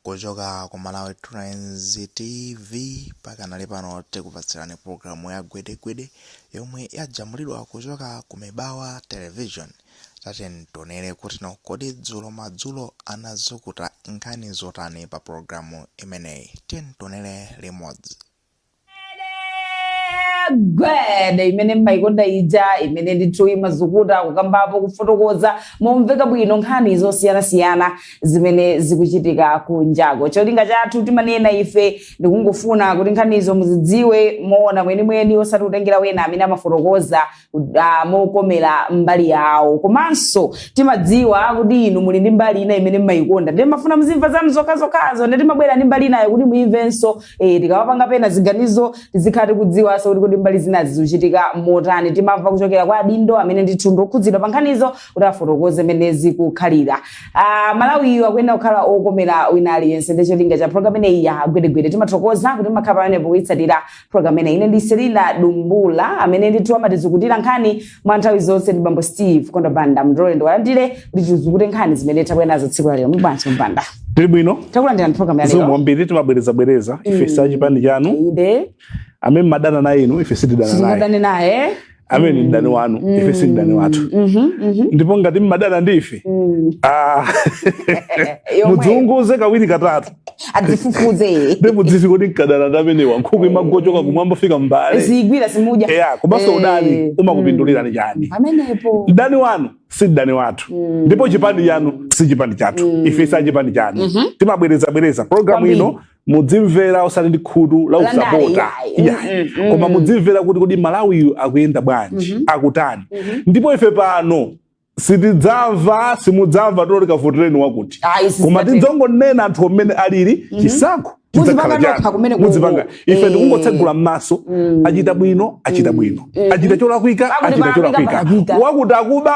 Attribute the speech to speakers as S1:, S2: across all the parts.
S1: kuchoka ku malawi trends tv pakanali pano tikupatsirani programu ya gwedegwede yomwe yajambulidwa kuchoka ku mibawa television tatiyeni tionere kuti kodi dzulo madzulo anazukuta nkhani zotani pa programu imeneyi tiyeni tionere limodzi
S2: gwede imene mumayikonda ija imene ndithu imazukuta kukambapo kufotokoza momveka bwino nkhani zosiyanasiyana zimene zikuchitika kunjako cholinga chathu timanena ife ndikungofuna kuti nkhanizo muzidziwe moona mwenimweni osati kutengera wena amene amafotokoza ah, mokomera mbali yawo komanso timadziwa kuti inu muli ndi mbali ina imene mumayikonda ndiye mumafuna muzimva zanu zokhazokhazo ndiye timabwera ndi mbali inayo kuti muyimvenso eh, tikawapanga pena ziganizo tizikhala tikudziwanso kuti kuti mbali zinazi zikuchitika motani timamva kuchokera kwa adindo amene ndithu ndi okhudzidwa pa nkhanizo kuti afotokoze mmene zikukhalira ah, malawiyu akuyenera kukhala okomera wina aliyense ndiye cholinga cha programu imeneyi ya gwedegwede timathokoza kuti mumakhala pamenepo kuyitsatira programu imeneyi ine ndi selina dumbula amene ndithu amatizukutira nkhani mwa nthawi zonse ndi bambo steve kondo banda mundilole ndiwalandire kuti tizukute nkhani zimene tabwera nazo tsiku la lero muli bwanji a banda ndili
S3: bwino takulandirani programu ya
S2: zikomo lero kwambiri
S3: timabwerezabwereza ife si achipani chanu inde
S2: amene mumadana
S3: naye inu ife sitidana naye sitingadane naye amene ndi mdani wanu mm. ife si mdani wathu mm -hmm, mm -hmm. ndipo ngati mumadana ndi ife mm. ah, mudziunguze kawiri katatu adzifufuze
S2: ndi mudzizi kodi
S3: nkadana ndi amenewa nkhuku eh. imangochoka kumwamba fika mbale ziyigwira simuja
S2: yeah, komanso eh.
S3: udani umakupindulirani mm. chani pamenepo
S2: mdani
S3: wanu si mdani wathu mm. ndipo chipani chanu si chipani chathu mm. ife si achipani chanu mm -hmm. timabwerezabwereza programu ino mudzimvera osati ndi khutu la usapota koma mudzimvera kuti kodi malawiyu akuyenda bwanji mm -hmm. akutani mm -hmm. ndipo ife pano sitidzamva simudzamva tikuti kavotereni wakuti koma tidzongonena anthu mmene alili mm -hmm. chisankho mudzipanga ife eh. ndikungotsegula m'maso mm. achita bwino achita mm. bwino mm. achita cholakwika achita cholakwika wakuti akuba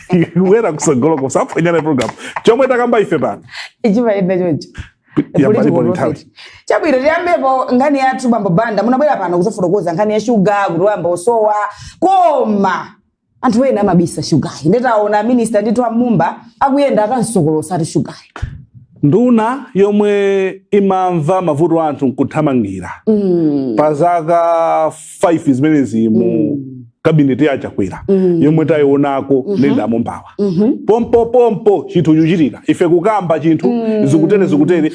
S3: wera kusogoloko musaphonye program chomwe takamba ife pano
S2: ichimaenda choncho chabwino tiyambepo nkhani yathu bambo banda munabwera pano kuzafotokoza nkhani ya shuga kuti wayamba kusowa koma anthu ena amabisa shugayu nde taona a minista ndithu a mumba akuyenda akamsokolotsa ati shugayu nduna
S3: yomwe imamva mavuto a anthu nkuthamangira mm. pa zaka 5 zimenezi mu mm. kabineti ya chakwera mm. yomwe tayionako mm -hmm. nenda amumbawa mm -hmm. pompo pompo chinthu chuchitika ife kukamba chinthu mm. zikutere zikutere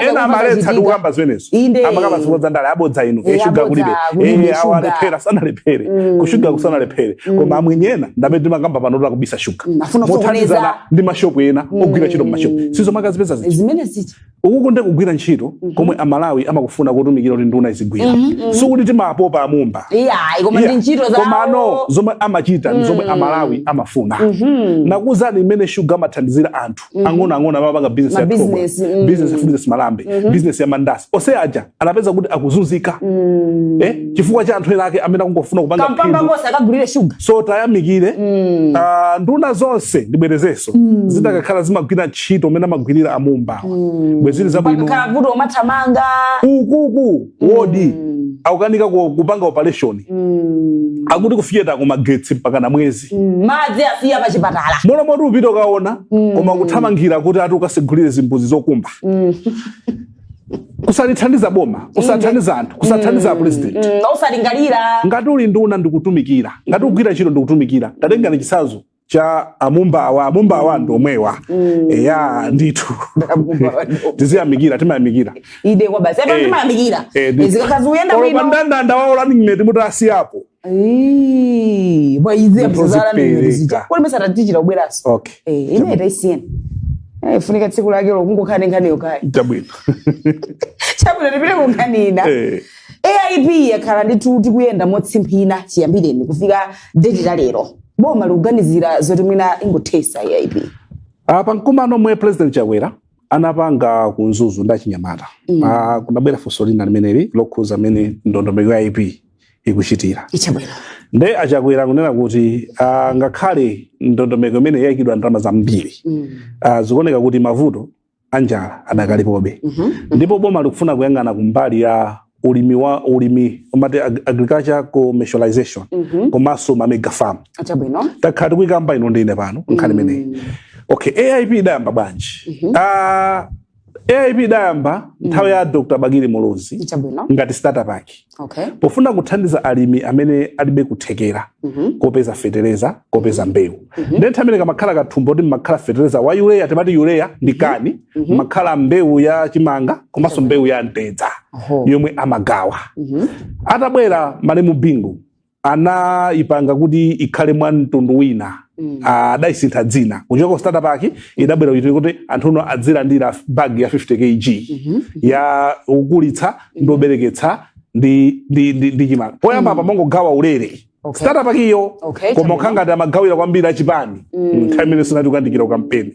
S3: ena amaletsa ndi kukamba zimenezo amakamba zifukwa zandale abodza inu e shuga kulibe e awa alephera sanalephere mm. kushuga kusanalephere mm. koma amwenye ena ndamene timakamba pano tola kubisa shuga mm. mothandizana ndi mashopu ena mm. ogwira ntchito mmashopu sizo mmakazipeza zichi
S2: ukuku ndiye
S3: kugwira ntchito mm -hmm. komwe amalawi amakufuna kutumikira kuti nduna izigwira mm -hmm. sikuti timapopa amumba yeah, koma yeah. ntchito
S2: zawo komano zomwe
S3: amachita mm -hmm. zomwe amalawi amafuna mm -hmm. nakuuzani imene shuga amathandizira anthu mm -hmm. ang'ono ang'ono amapanga business ya business mm -hmm. business ya business malambe mm -hmm. business ya mandasi ose aja anapeza kuti akuzunzika mm. eh, chifukwa cha anthu ena ake amene akungofuna kupanga kampamba onse
S2: akagulire shuga so
S3: tiyamikire mm. uh, nduna zonse ndibwerezenso mm. zitakakhala zimagwira ntchito mmene amagwirira amumbawa mm. bwezili zabwino vuto umathamanga ukuku mm. wodi mm. akukanika kupanga operation mm. akuti kufiyeta kumagetsi mpaka na mwezi mm. madzi afiya pa
S2: chipatala mola moti upita ukaona
S3: mm. koma kuthamangira kuti ati ukatsegulire zimbuzi zokumba mm. kusalithandiza boma kusathandiza anthu kusathandiza mm. apresident mm,
S2: usalingalira ngati uli nduna
S3: ndikutumikira ngati ukugwira ntchito ndikutumikira tatengani chitsanzo cha amumbawa amumbawa mm. ndomwewa mm. eya ndithu tiziyamikira timayamikira ide kwabasi apo
S2: eh. timayamikira eh, zikakhala zuyenda bwino pandandanda
S3: wawo running mate mutasiyapo Eee,
S2: bwa izi ya Ndipo msazala ni zipereka. nyeri zija. Kwa mesa tatichira ubweraso. okay Eh, ine tayisiyeni. Eh, funika tsiku lake lokungokamba nkhaniyo kaye. chabwino Chabwino tipite ku nkani ina. Eh, AIP yakhala nditi ikuyenda motsimphina chiyambireni kufika deti la lero. Boma likuganizira
S3: zoti mwina
S2: ingothesa AIP.
S3: pa mkumano
S2: omwe president
S3: chakwera anapanga ku Mzuzu ndi achinyamata Mm. Ah, kunabwera funso lina limeneli lokhuza mmene ndondomeko ya aip ikuchitira
S2: Chabwino. nde achakwera
S3: kunena kuti ah, ngakhale ndondomeko imeneyi yaikidwa ndalama zambiri Mm. ah, zikuoneka kuti mavuto anjala adakalipobe Mhm. ndipo boma likufuna kuyang'ana kumbali ya ulimi wa ulimi umati agriculture commercialization mm -hmm. komanso ma mega farm chabwino takhala
S2: tikuyikamba inu
S3: ndi ine pano nkhani imeneyi mm. okay aip idayamba bwanji mm -hmm. uh, ah, aip idayamba mm. nthawi ya dr bakili muluzi ngati starter pack okay. pofuna
S2: kuthandiza
S3: alimi amene alibe kuthekera mm -hmm. kopeza fetereza kopeza mm-hmm. mbewu Mhm. Nde nthawi imene kamakhala kathumba kuti mmakhala fertilizer wa urea timati urea ndi mhm. kani mhm. mmakhala mbewu ya chimanga komanso mbewu ya mtedza yomwe amagawa atabwera malemu bingu anayipanga kuti ikhale mwa mtundu wina mm. ah, adayisintha dzina kuchoka ku starter pack idabwera kuti anthu uno adzilandira bag ya 50 kg mhm. ya ukulitsa ndi obereketsa ndi chimanga poyamba mm. apa mongogawa ulere Okay. starter pack-iyo Okay, koma okhala ngati amagawira kwambiri achipani nthawi imene sinati kukandikira ukampeni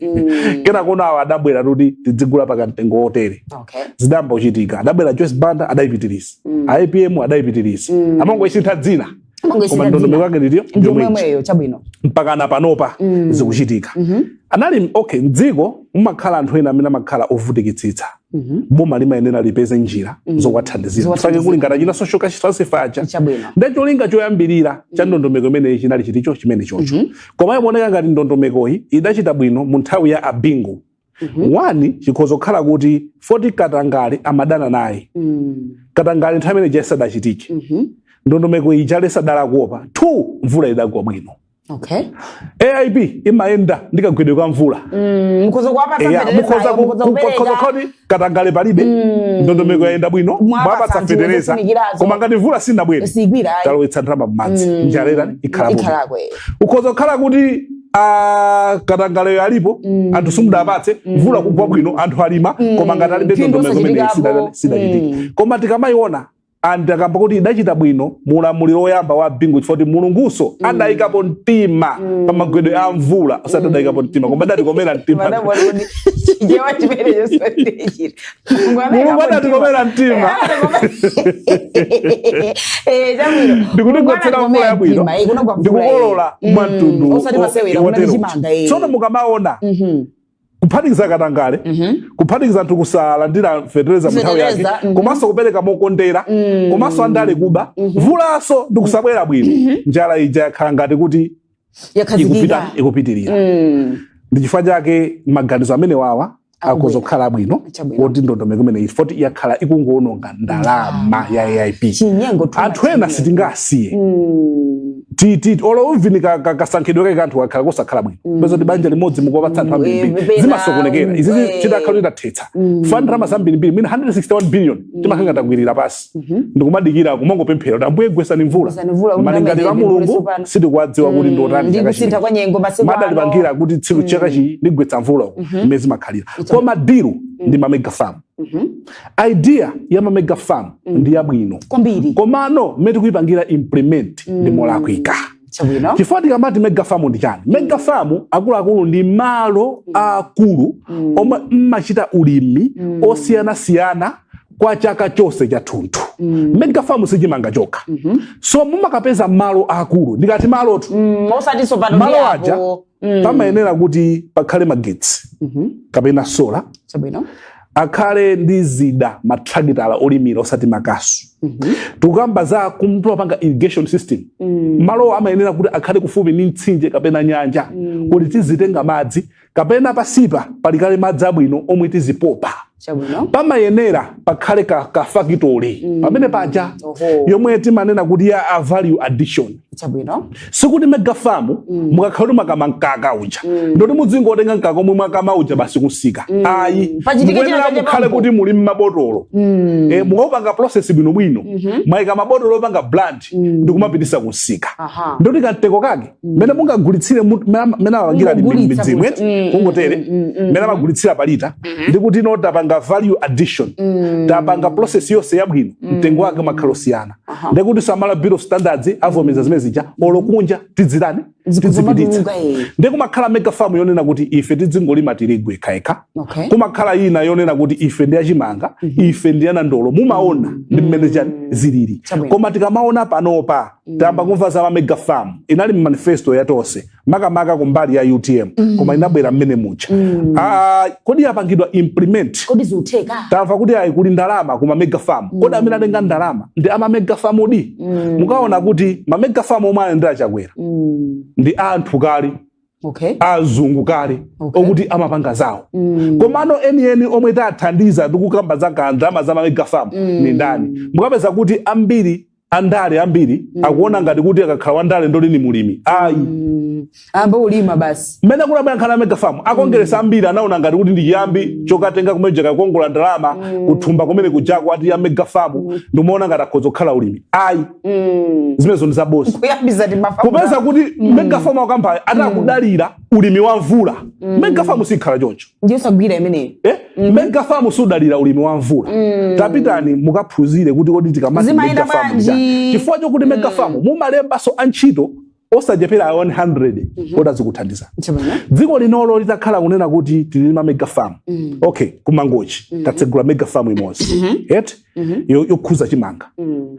S3: kenako no awa adabwera kuti tidzigula pa kamtengo wotere Okay. zidayamba kuchitika adabwera joyce banda adayipitiriza apm adayipitiriza amangoisintha dzina Amangoisintha koma ndondomeko dzina. yake ndi iyo Ndi yomweyi yomweyo
S2: chabwino. mpaka na panopa
S3: zikuchitika anali okay mdziko mumakhala anthu ena amene amakhala ovutikitsitsa Mhm. boma limayenera lipeze njira Mhm. zowathandizira Zowathandizira. chifukwa chake kuli ngati achina social cash transfer aja Chabwino. nde cholinga choyambirira cha ndondomeko imeneyi chinali chiticho chimene chocho Mhm. koma iyi imaoneka ngati ndondomekoyi idachita bwino mu nthawi ya abingu Mhm. wani chikhoza kukhala kuti foti katangale amadana naye Mm. katangale nthawi imene ija asadachitike Mhm. ndondomeko ija kale sadali kuopa two mvula idagwa bwino
S2: okay
S3: aip imayenda ndi kagwedwe ka mvula mm, mukhoza
S2: kuwapatsa Eya, fertilizer, mukhoza ku- mukhoza ku-
S3: kupereka. mukhoza kuti katangale palibe ndondomeko yayenda bwino Mwapatsa mwapatsa anthu fetereza zofunikazo. koma ngati mvula sinabwere Sigwira, ayi. talowetsa ndalama m'madzi njala ikhalapo Ikhalapo, eh. ukhoza kukhala kuti ah, katangaleyo alipo anthu simudapatse mvula kugwa bwino anthu alima koma ngati alibe Phindu ndondomeko imene osachitikapo. sidachitike koma tikamayiona anthu akamba kuti idachita bwino mu ulamuliro woyamba wa bingu chifukwa kuti mulungunso mm. adayikapo mtima mm. pa magwedwe a mvula osati mm. adayikapo mtima koma adatikomera mtima mulungu adatikomera mtima ndikutigwetsera mvula yabwino ndikukolola mwa mtundu tsono mukamaona mm-hmm. kuphatikiza katangale kuphatikiza anthu kusalandira fetereza mu nthawi yake Fetereza, mhm. komanso kupereka mokondera komanso andale kuba mvulaso ndi kusabwera bwino njala ija yakhala ngati kuti ikupita yakhazikika ikupitirira Mm. ndi chifukwa chake maganizo amenewawa akoza kukhala abwino woti ndondomeko imeneyi foti yakhala ikungoononga ndalama ya aip anthu ena sitingasiye mm. titi olo uunike kasankhidwe kake ka anthu kakhala kosakhala bwino mm. peza kuti banja limodzi mukuwapatsa anthu ambirimbiri zimasokonekera izizi chitakhala kuti tathetsa mm. chifukwa ndalama zambirimbiri imene 161 billion timakanga takwirira pasi Mhm. ndikumadikira kumangopemphera kuti ambuye gwetsani mvula Gwetsani mvula, kuti malingaliro a Mulungu sitikuwadziwa kuti ndi otani ndi kusintha kwa nyengo
S2: masiku ano. madalipangira kuti tsiku
S3: chakachi ndigwetsa mvula umu mmene zimakhalira koma diru ndi mamega farm Mhm. idea ya mamega farm ndi yabwino kwambiri komano mmene tikuyipangira implement ndi molakwika chabwino chifukwa tikamati mega farm ndi chani mega farm akuluakulu ndi malo aakulu omwe mmachita ulimi osiyanasiyana kwa chaka chonse chathunthu mm. mega farm sichimanga chokha mm -hmm. so mumakapeza malo akulu ndikati malotu mm, malo aja mm. pamayenera kuti pakhale magetsi mm -hmm. kapena sola Chabwino. akhale ndi zida matrakitala olimira osati makasu mm -hmm. tikukamba za kumapanga irrigation system mm. malowo amayenera kuti akhale kufupi ndi mtsinje kapena nyanja mm. kuti tizitenga madzi kapena pasipa pali kale madzi abwino omwe tizipopa Chabwino. pamayenera pakhale ka, ka factory mm. pamene paja Oho. yomwe timanena kuti ya a value addition Chabwino. sikuti megafamu mm. mukakhala kuti mwakama mkaka uja mm. ndoti muzingotenga mkaka omwe mwakama uja basi kumsika mm. ayi Pachitike china mukuyenera chache mukhale pampo. kuti muli mmabotolo mm. e, mukaupanga process bwinobwino mm -hmm. mwaika mmabotolo opanga brand mm. ndikumapititsa kumsika Aha. ndoti kamtengo kake mmene mm. mungagulitsire mmene apangira midzimu eti mm, kungotere mm, mmene amagulitsira pa lita mm-hmm. ndi kuti no tapanga value addition tapanga process yonse yabwino mtengo wake umakhala osiyana ndekuti a Malawi bureau standards avomeza zimene zija olo kunja
S2: tizizipititsa
S3: ndi kumakhala mega farm yonena kuti ife tizingolima tirigu ekhaekha okay. kumakhala ina yonena kuti ife ndi achimanga mm -hmm. ife ndi anandolo mumaona mm -hmm. ndi mmene chani zilili koma tikamaona panopa tayamba kumva za mamega farm inali mu manifesto ya tonse makamaka kumbali ya utm koma inabwera mmene mucha Ah, kodi yapangidwa implement kodi zikutheka
S2: tamva kuti ayi kuli
S3: ndalama ku mamega farm kodi amene atenga ndalama ndi amamega farm adi mukaona kuti mamega farm omwe alandira chakwera Mm. ndi anthu kale okay azungu kale Okay. okuti amapanga zawo komano enieni omwe tathandiza tikukamba za ndalama za mamega farm ni ndani mukapeza kuti ambiri andale ambiri mm. akuona ngati kuti akakhala wandale ndoti ni mlimi ayi
S2: mm. ambe ulima basi mmene kunabwera nkhani ya megafarm
S3: akongeresa mm. ambiri anaona ngati kuti ndi chiyambi mm. chokatenga kumene kuja kukakongola ndalama mm. kuthumba kumene kujako ati ya megafarm mm. ndimaona ngati akhoza kukhala alimi ayi mm. zimenezo ndi zabodza ukapeza
S2: kuti mm.
S3: megafarm akampani ati mm. akudalira ulimi wa mvula mm. mega farm sikhala choncho ndiyosagwira imeneyo
S2: eh? mm -hmm. mega
S3: farm sidalira ulimi wa mvula mm. tapitani mukaphunzire kuti kodi tikamati mega farm chifukwa chokuti mega mm. farm mumalembaso antchito osachepera 100 mm -hmm. oti azikuthandiza dziko linolo litakhala kunena kuti tilima mega farm mm. okay kumangochi mm -hmm. tatsegula mega farm imodzi mm -hmm. et mm -hmm. yokhudza chimanga mm.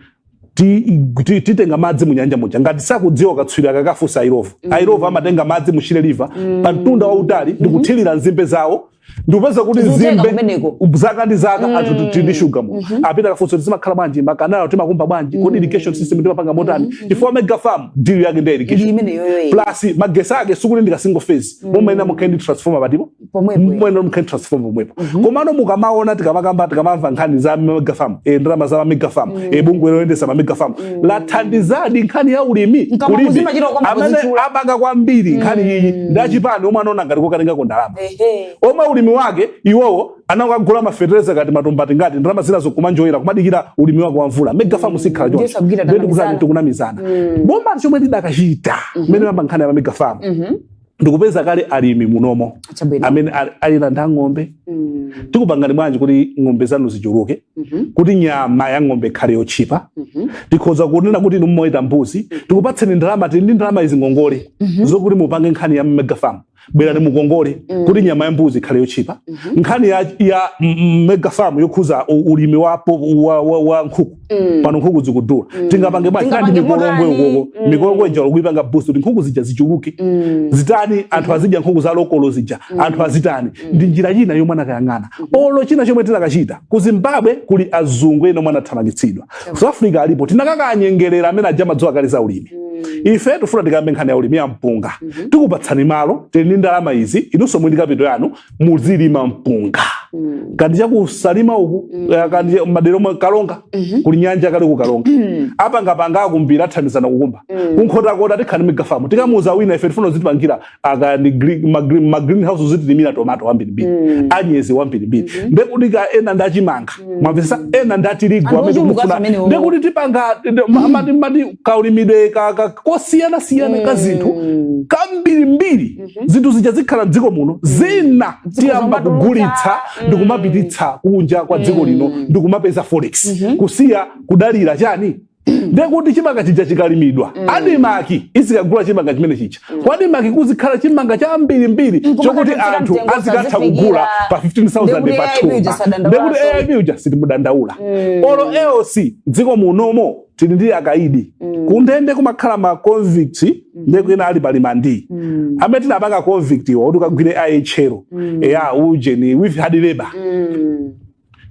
S3: ti- ti- titenga madzi mu nyanja muja ngati sakudziwa katswiri akakafunse a Illovo a Illovo amatenga madzi mu shire river pa mtunda wautali ndi kuthirira nzimbe zawo ndikupeza kuti Zikutenga nzimbe kumeneko. zaka ndi zaka anthu tu- tili ndi shuga mu apite akafunse kuti zimakhala bwanji makanalo timakumba bwanji kodi irrigation system timapanga motani chifukwa mega farm deal yake ndi ya ndi irrigation imeneyoyo plus magesi ake sikuti ndi ka single phase mumayenera mukhale ndi transformer patipo muyenera mukhale transformer pomwepo mhm. komano mukamaona tikamakamba tikamamva nkhani za megafam e, eh, ndalama za mamegafam mm. e, eh, bungwe loyendesa mamegafam mm. lathandizadi nkhani ya ulimi kulimi amene apanga kwambiri mm. nkhani iyi ndi achipani omwe anaona ngati kokatengako ndalama omwe ulimi wake iwowo anakagula mafertilizer kaya matumba angati ndalama zinazo kumanjoyera kumadikira ulimi wake wa mvula megafam mm. sikhala choncho ndikuti tikunamizana mm. boma chomwe chidakachita mmene mm -hmm. amayamba nkhani ya mamegafam mm -hmm. ndikupeza kale alimi munomo Chabwino. amene ali- ali nazo ng'ombe Mm. tikupangani bwanji kuti ng'ombe zanu zichuluke Mhm. kuti nyama ya ng'ombe ikhale yotchipa Mhm. tikhoza kunena kuti inu mumaweta mbuzi tikupatseni ndalama tili ndi ndalama izi ngongole zokuti mupange nkhani ya megafarm bwerani mukongole kuti nyama ya mbuzi ikhale yotchipa nkhani ya, ya mm, mm, megafarm yokhudza u- ulimi wa, po- wa, wa, wa nkhuku Mm. pano nkhuku zikudula mm. tingapange bwanji ndi Mikolongwe uko mm. mikolongwe ija kuyipanga boost kuti nkhuku zija zichuluke mm. zitani anthu mm. azidya nkhuku za lokolo zija mm. anthu azitani mm. ndi njira ina yomwe anakayang'ana mm. olo china chomwe tinakachita ku zimbabwe kuli azungu ena omwe anathamangitsidwa mm. south africa alipo tinakakanyengerera amene aja amadziwa kale za ulimi mm. ife tifuna tikambe nkhani ya ulimi ya mpunga mm -hmm. tikupatsani malo tili ndi ndalama izi inunso muli ndi kapito yanu muzilima mpunga mm. kaya ndi chaku Salima uku mm. Eh, kaya ndi madera a ku Karonga mm -hmm. kuli nyanja kale ku Karonga mm. apangapanga akumbira athandizana kukumba mm. ku Nkhotakota tikhale ndi megafamu tikamuuza wina ife tifuna uzitipangira kaya ndi ma green house uzitilimira tomato wambirimbiri mm. anyezi wambirimbiri mm -hmm. ndekuti kaya ena ndi a chimanga mm. mwamvetsa ena ndi a tirigu amene tikufuna ndekuti tipanga mm. mati mati kaulimidwe ka, ka, kosiyana siyana mm. ka zinthu kambirimbiri mm. mhm. zinthu zija zikhala mdziko muno mm. zina tiyamba kugulitsa mm. ndikumapititsa kunja kwa dziko lino mm. ndikumapeza forex mhm. kusiya kudalira chani ndekuti chimanga chija chikalimidwa mm. adimaki izikagula chimanga chimene chija mm. kwa adimaki kuzikhala chimanga chambirimbiri mm, chokuti anthu azikatha kugula pa 15000 pa thumba ndekuti aip uja sitimudandaula mm. olo eoc mdziko munomo tili ndi akaidi mm. kundende kumakhala ma convict mm. ndiye kwina ali pa remand mm. amene tinapanga convict iwo kuti ukagwire IHL mm. eya ujeni with hard labor mm.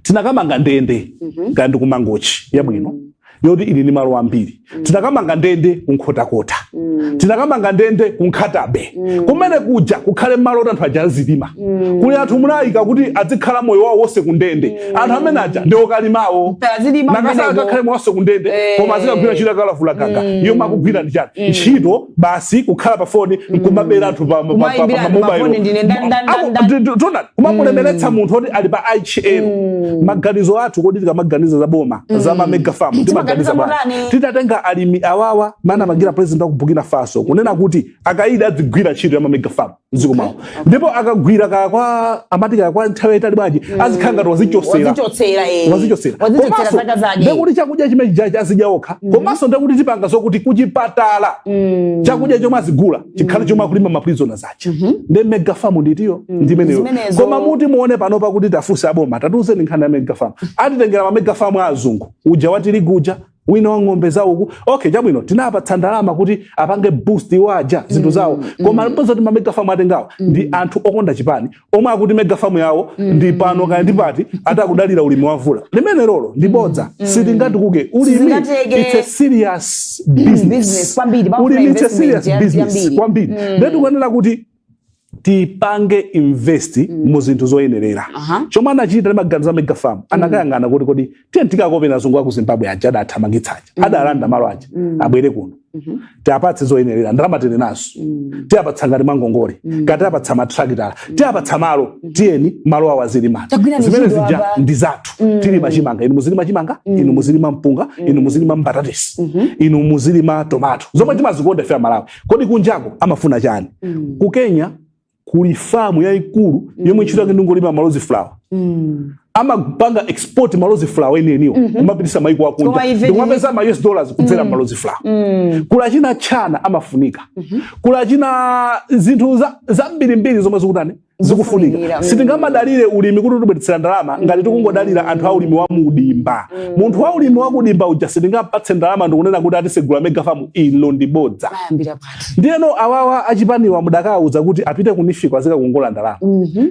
S3: tinakamanga ndende mm -hmm. kanyumbangochi yabwino mm yoti ili ni malo ambiri mm. tinakamanga ndende ku Nkhotakota mm. tinakamanga ndende ku Nkhata Bay mm. kumene kuja kukhale malo oti anthu aja azilima mm. kuli anthu munayika kuti adzikhala moyo wawo wonse kundende mm. anthu amene aja ndi okalimawo nanga asakakhale moyo wonse kundende eh. koma azikagwira ntchito yakalavula gaga mm. yomwe akugwira ndi chani mm. ntchito basi kukhala pa foni mm. nkumabera anthu pa mobile kumamulemeretsa mm. munthu oti ali pa IHL mm. maganizo athu kodi tikamaganiza za boma mm. za mamega famu timaganiza bwanji titatenga alimi awawa mmene anapangira president wa ku burkina faso kunena kuti akaidi adzigwira ntchito ya mamega farm mdziko mwawo ndipo akagwira kaya kwa amati kaya kwa nthawi yayitali bwanji azikhala ngati wazichosera wazichotsera eh. wazichosera
S2: wazichotsera Komanso, zaka zake ndekuti chakudya chimene chijachi
S3: azidya okha komanso ndekuti tipanga zokuti kuchipatala Mm. chakudya chomwe azigula chikhale chomwe akulima maprizona aja ndi mega farm ndithu yo ndimeneyo Zimenezo. koma muti muone pano pakuti tiwafunse aboma tatiuzeni nkhani ya mega farm atitengera ma mega farm a azungu uja wa tirigu uja wina wa ng'ombe zawo uku okay chabwino tinapatsa ndalama kuti apange boost iwo aja zinthu zawo koma lipoti likuti mamega famu atengawo ndi anthu okonda chipani omwe akuti mega famu yawo ndi pano kaya ndi pati ati akudalira ulimi wa mvula limene lolo ndi bodza sitingatukuke ulimi Sizingatheke. it's a serious business business, kwambiri, pamafuna ulimi it's a investment
S2: serious
S3: ya- business yambiri. kwambiri nde tikuyenera kuti tipange invest mm. mu zinthu zoyenerera uh -huh. chomwe anachita ndi maganizo a mega farm mm. anakayang'ana kuti kodi tiye tikakope azungu aku zimbabwe aja adathamangitsa aja mm. adalanda malo aja mm. abwere kuno mm -hmm. tiapatse zoyenerera ndalama tili nazo mm. tiapatsa ngati mangongole mm. tiapatsa matrakitala mm. tiapatsa malo mm. tiyeni malo awa muzilima zimene zija ndi zathu mm. tilima chimanga inu muzilima chimanga mm. inu muzilima mpunga mm. inu muzilima mbatatesi mm -hmm. inu muzilima tomato zomwe timazikonda ife amalawi Kodi kunjako amafuna chani? Mm. Ku Kenya kuli famu yaikulu mm. yomwe ntchito yake ndingolima ma rose flower. Mm. amapanga export ma rose flower eni eniwo mm -hmm. kumapitisa maiko akunja ndikumapeza ma US dollars kudzera mm. ma rose flower mm. ku China chani amafunika mm -hmm. ku China zinthu zambirimbiri zomwe zikutani zikufunika Zikufunikira, mm. sitingamadalire ulimi kuti utibweretsere ndalama ngati tikungodalira anthu a ulimi wa mudimba munthu wa ulimi wa kudimba uja sitingampatse ndalama ndikunena kuti atsegula megafamu ilo ndi bodza ayambira pati ndiyeno awawa achipaniwa mudakawuza kuti apite ku NEEF ko azikakongola ndalama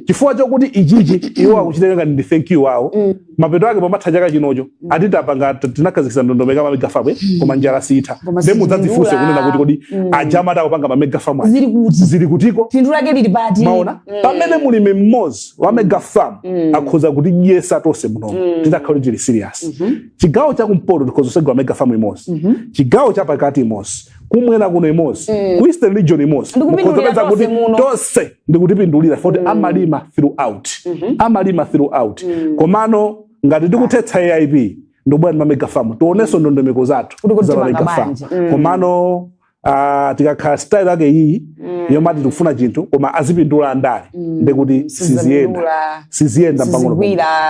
S3: chifukwa chokuti ichichi iwo akuchitenga ngati ndi thank you wawo mapeto ake pamatha chaka chinocho mm. ati tapanga tinakhazikitsa ndondomeko ma mega farm eh? mm. koma njala sitha nde mudzadzifunse kunena kuti kodi mm. anyamata opanga ma mega farm zili kuti zili kutiko phindu lake lili pati
S2: maona mm.
S3: pamene mulimi mmodzi wa mega farm mm. akhoza kutidyetsa tonse muno mm. titakhala kuti tili serious mm -hmm. chigawo cha kumpoto tikhoza kusegula mega farm imodzi mm -hmm. chigawo cha pakati imodzi kumwera kuno imodzi mm. ku eastern region imodzi mukhoza kupeza kuti tonse ndikutipindulira poti mm. amalima throughout mm -hmm. amalima throughout mm. komano ngati tikuthetsa aip ndobwera ndi mamegafamu tionenso ndondomeko zathu za mamegafamu mm. komano uh, tikakhala style yake iyi mm. yomati tikufuna chinthu koma azipindula andale mm. ndekuti siziyenda siziyenda pang'ono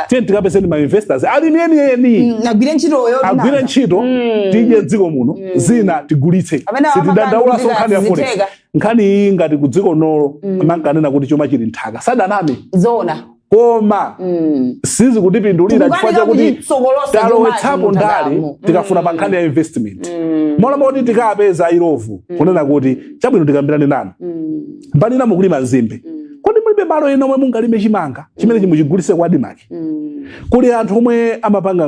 S3: tiyeni tikapezeni mainvestors alimi enieni mm, agwire ntchitoyo agwire ntchito mm. tidye m'dziko muno mm. zina tigulitse sitidandaulanso nkhani ya forex nkhani iyi ngati ku dziko nolo mm. amankanena kuti chuma chili m'nthaka sadaname zona koma mm. sizikutipindulira chifukwa chakuti talowetsapo ndale mm. tikafuna pa nkhani ya investment mm. mola moti tikapeza a Illovo mm. kunena kuti chabwino tikambirane nanu mm. mbali ina mukulima nzimbe mm. kodi mulibe malo ena omwe mungalime chimanga chimene mm. chimuchigulitse kwa ADMARC mm. kuli anthu omwe amapanga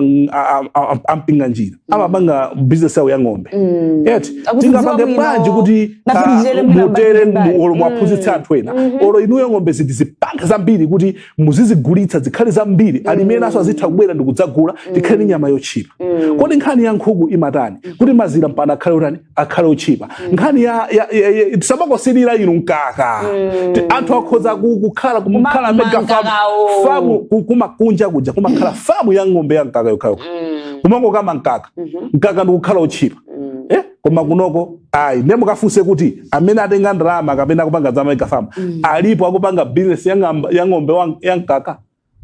S3: a Mpinganjira amapanga business yawo ya ng'ombe Mm. eti tingapange bwanji kuti mutere olo muwaphunzitse Mm. anthu ena Mhm. olo inuyo ng'ombe zitizipange zambiri kuti muzizigulitsa zikhale zambiri alimi enaso azitha kubwera ndikudzagula tikhale ndi nyama yotchipa Mm. kodi nkhani ya nkhuku imatani kuti mazira mpana akhale otani akhale otchipa mm. nkhani ya, ya, ya, ya tisamakosilira inu mkaka mm. anthu akhoza kukhala kumakhala mega famu kumakunja kuja kumakhala famu ya ng'ombe ya mkaka yokhayokha mm. kumangokama mkaka mm -hmm. mkaka ndikukhala otchipa mm. eh? koma kunoko ayi nde mukafunse kuti amene atenga ndalama kapena akupanga za mega famu mm. alipo akupanga bizinesi ya ng'ombe ya mkaka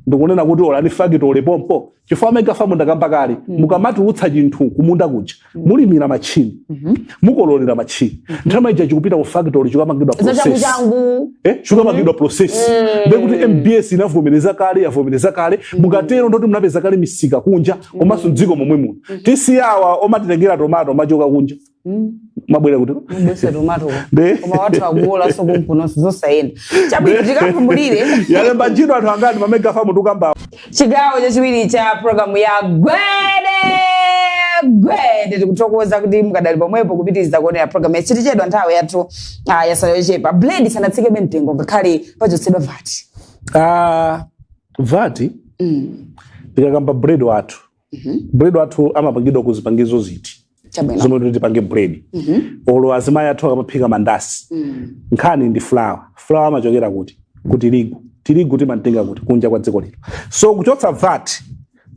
S3: ndikunena kuti olo ndi fakitole pompo chifukwa a mega famu ndakamba kale mm. mukamatulutsa chinthu kumunda kuja mm. mulimira machini mm -hmm. mukololera machini mm -hmm. nthawi ija chikupita ku factory chikapangidwa process eh chikapangidwa mm-hmm. process mm. ndiye kuti MBS inavomereza kale yavomereza kale mm. mukatero ndoti munapeza kale misika kunja mm. komanso m'dziko momwe muno mm -hmm. tisiyawa omatitengera tomato machoka kunja Mm. mabwera kuti Mabwesa
S2: tomato. De. Koma wathu akuolanso kumpunosi zosayenda. Chabwino tikapumulire. yalemba ntchito
S3: anthu angati mamega famu tikamba chigawo chachiwiri
S2: cha programu ya gwede gwede tikuthokoza kuti mukadali pomwepo kupitiriza kuonera programu yathuyi tichedwa nthawi yathu ah, yatsala yochepa bread sanatsikebe mtengo ngakhale pachotsedwa VAT Ah,
S3: VAT tikakamba bread wathu Mhm. bread wathu amapangidwa ku zipangizo ziti Chabwino. zomwe kuti tipange bread Mhm. olo azimayi athu akamaphika mandasi Mm. nkhani ndi flour flour amachokera kuti ku tirigu tirigu timatenga kuti kunja kwa dziko lino so kuchotsa vat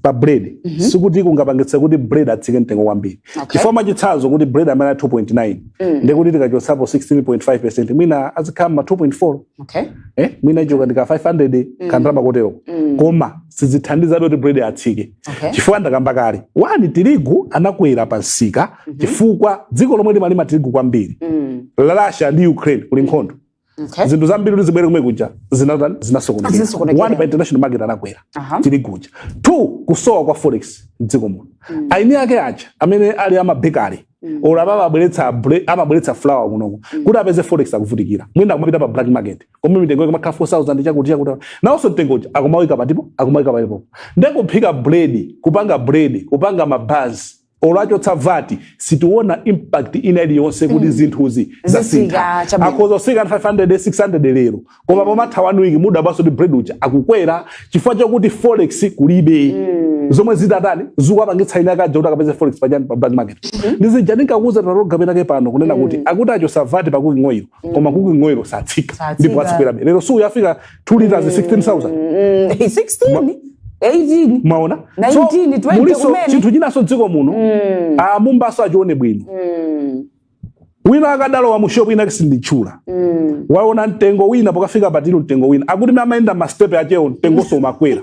S3: pa bread sikuti kungapangitse kuti bread atsike mtengo kwambiri Okay. chifukwa mwachitsanzo kuti bread amene ali 2.9 ndikuti tikachotsapo 16.5 peresenti mwina azikhala ma 2.4 okay. eh, mwina ichoka ndi ka 500 mm. kandalama kotero mm. koma sizithandiza kuti bread atsike okay. chifukwa ndakamba kale one tirigu anakwera pa msika mm -hmm. chifukwa dziko lomwe limalima tirigu kwambiri mm. Russia ndi Ukraine kuli nkhondo okay. zinthu zambiri kuti zibwere komwe kuja zinatani zinasokonekera one pa international market anakwera uh -huh. tirigu uja two kusowa kwa forex mdziko muno mm. eni ake aja amene ali a mabekari Mm. olo apa amabweretsa bre- amabweretsa flour kunoko kuti apeze forex akuvutikira mwina akumapita pa black market komwe mitengo ikumakhala 4000 chakuti chakuti nawonso mtengo uja akumawika patipo akumawika patipo nde kuphika bread kupanga bread kupanga mabanzi olo achotsa vati sitiona impact ina iliyonse kuti zinthuzi Zitsika, zasintha chabwino. akhoza kutsika 500 600 lero koma pomatha one week mudabwanso kuti bread uja akukwera chifukwa chakuti forex kulibe mm. zomwe zitatani zikuwapangitsa eni ake aja kuti akapeze forex pa chani pa black market mm -hmm. ndi zija ndinkakuuza taroga penake pano kunena mm. kuti akuti achotsa vati pa cooking oil mm. koma cooking oil satsika ndipo azikwerabe lero suku yafika 2 liters
S2: mm. 16000 mm. 16 18 maona 19 so,
S3: 20 muliso
S2: chinthu chinanso mdziko muno
S3: mm. a Mumbanso ah, achione bwino mm. wina akadalowa mu shop inake sinditchula mm. waona mtengo wina pokafika pa till mtengo wina akuti mmene amayenda ma step achewo mtengonso umakwera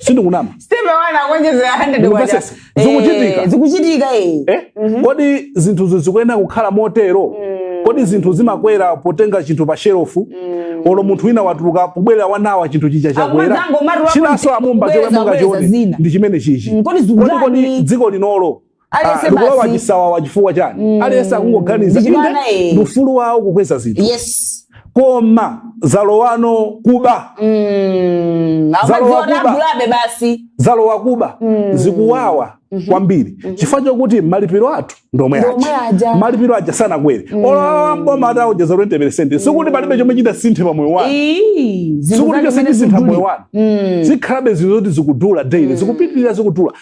S3: sindikunama step one akuonjezera
S2: 100 kwacha zikuchitika eh, zikuchitika eh, eh? Mm -hmm.
S3: kodi zinthu zikuyenera kukhala motero mm. kodi zinthu zimakwera potenga chinthu pa shelofu mm. olo munthu wina watuluka kubwera winawe chinthu chija chakwera chinanso a Mumba chomwe mungachione ndi chimenechichi mm, kodi dziko linolo aliyense likulowa basi chisawawa chifukwa chani aliyense akungoganiza Ndichimwana, inde eh. ndi ufulu wawo kukweza zinthu yes koma zalowano kuba Mm, Zalowa amadziona kuba. agulabe basi zalowa kuba zikuwawa kwambiri chifukwa chokuti malipiro athu ndomwe Ndomwe aja. aja malipiro aja sanakwere olo a mboma ataonjeza 20 peresenti sikuti palibe chomwe chitasinthe pa moyo wanu Ii, zinthu sikuti zake chonse zimene chisintha zikudula. moyo wanu zikhalabe zinthu zoti zikudula daily zikupitirira zikudula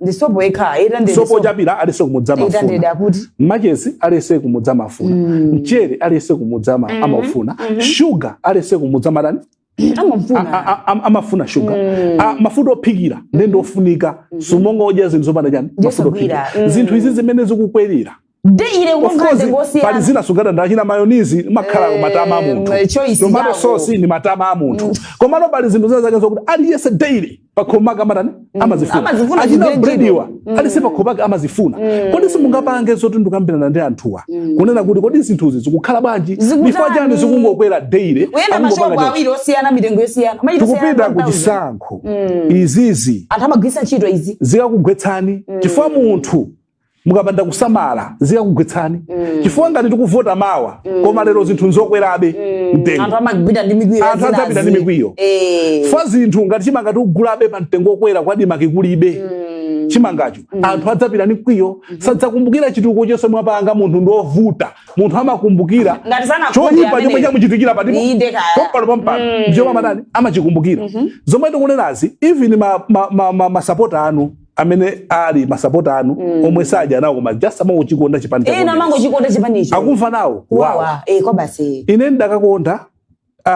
S3: ndi sopo yekha eta ndi sopo ochapira aliyense kumudzi eta ndi amafuna akuti machesi aliyense kumudzi amafuna Mm. mchere aliyense kumudzi ama- Mhm. amaufuna Mhm. shuga aliyense kumudzi amatani A- a- amafuna a- a- amafuna shuga Mm. A- mafuta ophikira nde ndiofunika sumangodya zinthu zopanda chani mafuta Ndiyosagwira. ophikira Mm. zinthu izi zimene zikukwerera de ine Of
S2: kununkha course, mtengo pali osiyana zina sugadanda
S3: china mayonnaise makhala Eh, matama a munthu eh, choice tomato yako. sauce ndi matama a munthu komano pali zinthu zina zake zokuti aliyense daily pakhomaka amatani amazifuna amazifuna achina zigwire bread iwa aliyense pakhomaka amazifuna kodi simungapange zoti ndikukambirana ndi anthuwa kunena kuti kodi zinthuzi zikukhala bwanji Zikutani? chifukwa chani zikungokwera daily kuyenda akungopanga mashopu choncho.
S2: awiri osiyana mitengo yosiyana Machita tikupita osiyana ku
S3: chisankho izizi anthu amagwiritsa ntchito
S2: izi zikakugwetsani
S3: chifukwa munthu mukapanda kusamala zikakugwetsani mm. chifukwa ngati tikuvota mawa mm. koma lero zinthu nzokwerabe mm. mtengo
S2: anthu adzapita ndi mikwiyo
S3: eh. fa zinthu ngati chimanga tikugulabe pa mtengo okwera ku ADMARC kikulibe mm. chimangacho mm. anthu adzapita ndi mkwiyo mm -hmm. sadzakumbukira chitukuko chonse mwapanga munthu ndi wovuta munthu amakumbukira choyipa chomwe chamuchitikira posachedwa pano pampano mm. ndichomwe amatani amachikumbukira mm -hmm. zomwe tikunenazi even masapota ma, ma, ma, ma anu amene ali masapota anu mm. omwe sadyanawo koma just amangochikonda chipani cha ena amangochikonda chipani
S2: icho akumva nawo kuwawa
S3: eh kwa basi
S2: ine ndikadakonda
S3: uh,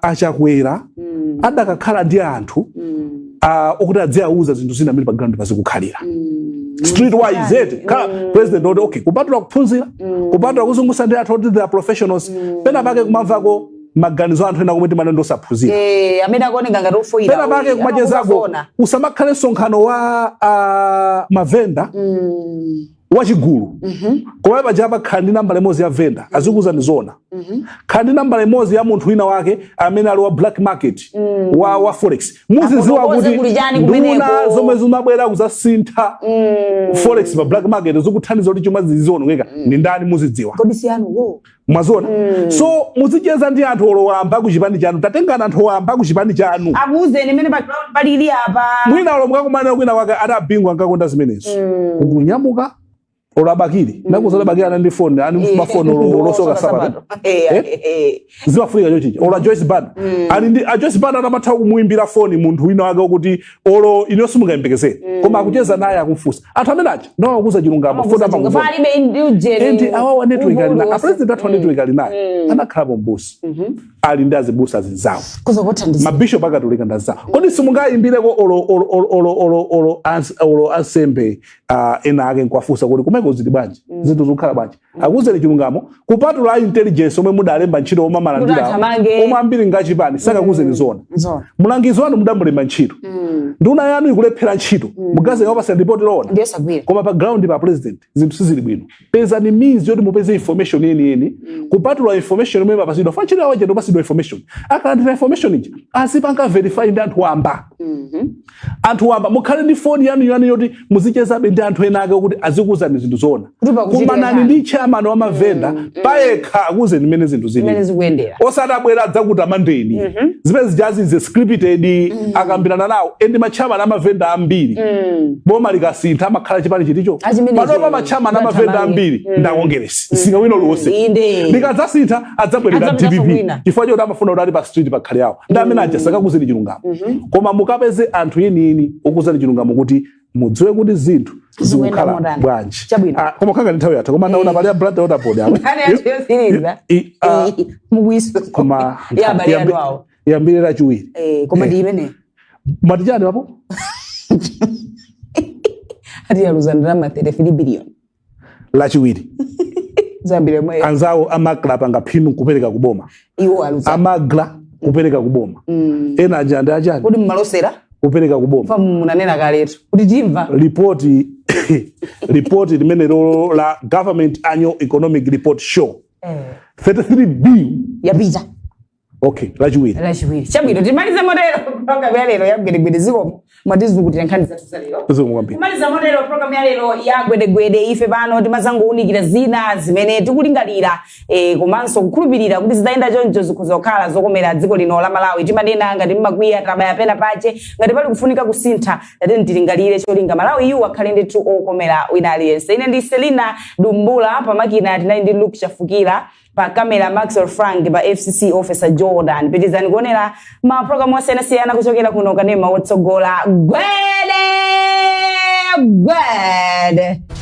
S3: a Chakwera mm. akadakhala ndi anthu mm. uh, okuti adziauza zinthu zina mmene pa ground zikukhalira mm street wise eti eh, khala mm. president oti okay kupatula kuphunzira mm. kupatula kuzungusa ndi anthu oti they are professionals mm. pena pake kumamvako maganizo a anthu ena omwe timanena ndi osaphunzira Eh, amene
S2: akuoneka ngati ofoyira pena pake uyu,
S3: kumachezako amakuona. usamakhale msonkhano wa ah, mavenda Mm, wachigulu mhm, koma pajapa khala ndi nambala imodzi ya venda azikuwuzani zona mhm. khala ndi nambala imodzi ya munthu wina wake amene ali wa black market wa, wa forex muziziwa Afotokoze kuti kuli chani nduna kumeneko. zomwe zimabwera kuzasintha Mm. forex pa black market zikuthandiza kuti chuma zizionongeka ndi ndani muzidziwa kodi siyanu wo mwaziona mm. so muzicheza ndi anthu olo wamba ku chipani chanu tatengana anthu wamba ku chipani chanu akuuzeni mmene
S2: palili
S3: apa mwina olo
S2: mukakumanirana
S3: kwina wake ati abingu ankakonda zimenezo mm. kunyamuka olo a Bakili mm. ndakuuza a Bakili ana ndi foni ani mfuma eh. foni olo Soka sabato eh, eh, eh? zimafunika choncho olo a Joyce Banda mm. ali ndi a Joyce Banda ankatha kumuimbira foni munthu wina wake okuti olo inuyo simungayembekezere mm. koma akucheza naye akumfunsa anthu amene aja nawauza chilungamo fa and awawa network ali nayo a president athu network ali nayo mm. anakhalapo mbusa mm-hmm. ali ndi azibusa azinzawo mabishop akatolika nanzawo mm. kodi simungayimbireko olo ansembe ah, ena ake nkuwafunsa kuti kumeko zili bwanji zinthu zikukhala bwanji akuuzeni chilungamo kupatula a intelligence omwe mudalemba ntchito omwe amalandira Kuti athamange. omwe ambiri ngachipani sakakuuzeni zona Nzona. mlangizi wanu mudamulemba ntchito Mm. nduna yanu ikulephera ntchito mungaze awapasa ripoti lowona Ndiye sagwira. koma pa ground a president zinthu sizili bwino pezani means yoti mupeze information yeniyeni kupatula information imene mumapasidwa fa chili awa jando pasidwa information akalandira information ija azipanga verify ndi anthu wamba Mhm. anthu wamba mukhale ndi foni yanu yanu yoti muzichezabe ndi anthu ena ake kuti azikuuzani zinthu zoona mukumana ndi chairman wa mavenda mm, mm. payekha akuuzeni mmene zinthu zili osati abwera adzakutamandeni mm -hmm. zimene zijazi ze scripted mm. akambirana nawo endi machairman a mavenda ambiri mm. boma likasintha amakhala chipani chiticho panopa machairman a mavenda ambiri mm. ndi akongeresi mm. Singawino lomwe likadzasintha adzabwerera dpp chifukwa choti amafuna kuti ali pa street pakhale awo ndi amene mm. aja sakakuuzeni chilungamo Mhm. koma mukapeze anthu enieni okuuzani chilungamo kuti mudziwe kuti zinthu Zikuyenda zikukhala motani. bwanji Chabwino. Ah, koma khanga ndi nthawi yatha koma naona pali ya Blantyre Water Board apa Nkhani yathu yotsiriza I- ah, mukuiso koma ya abale yambi- anu awo yambire lachiwiri Eh, koma ndi
S2: imene amati chani papo ati yaluza ndalama 33 billion
S3: lachiwiri
S2: zambiri mwe anzawo amagla
S3: apanga phindu kupereka kuboma iwo aluza amagla
S2: kupereka
S3: kuboma Mm. ena aja ndi achani kodi
S2: amalosera kupereka kuboma
S3: paja munanena
S2: kaletu kuti timva
S3: ripoti ripoti limene lolo la government annual economic report show 33 bill yapita okay lachiwiri lachiwiri chabwino
S2: timalize motero programu ya lero ya gwedegwede zikomo mwatizukutira nkhani zathu za lero zikomo kwambiri kumaliza motero programu ya lero ya gwedegwede ife pano timadzangounikira zina zimene tikulingalira eh, komanso kukhulupirira kuti zitayenda choncho zikhoza kukhala zokomera dziko lino la malawi timanena ngati mwakwiya tabaya pena pache ngati pali kufunika kusintha tateni tilingalire cholinga malawiyu akhale ndithu okomera wina aliyense ine ndi selina dumbula pamakina tinali ndi luke chafukira pa camera maxwell frank pa fcc officer jordan pitizani kuonera ma program osiyanasiyana kuchokera kuno kanema wotsogola gwede gwede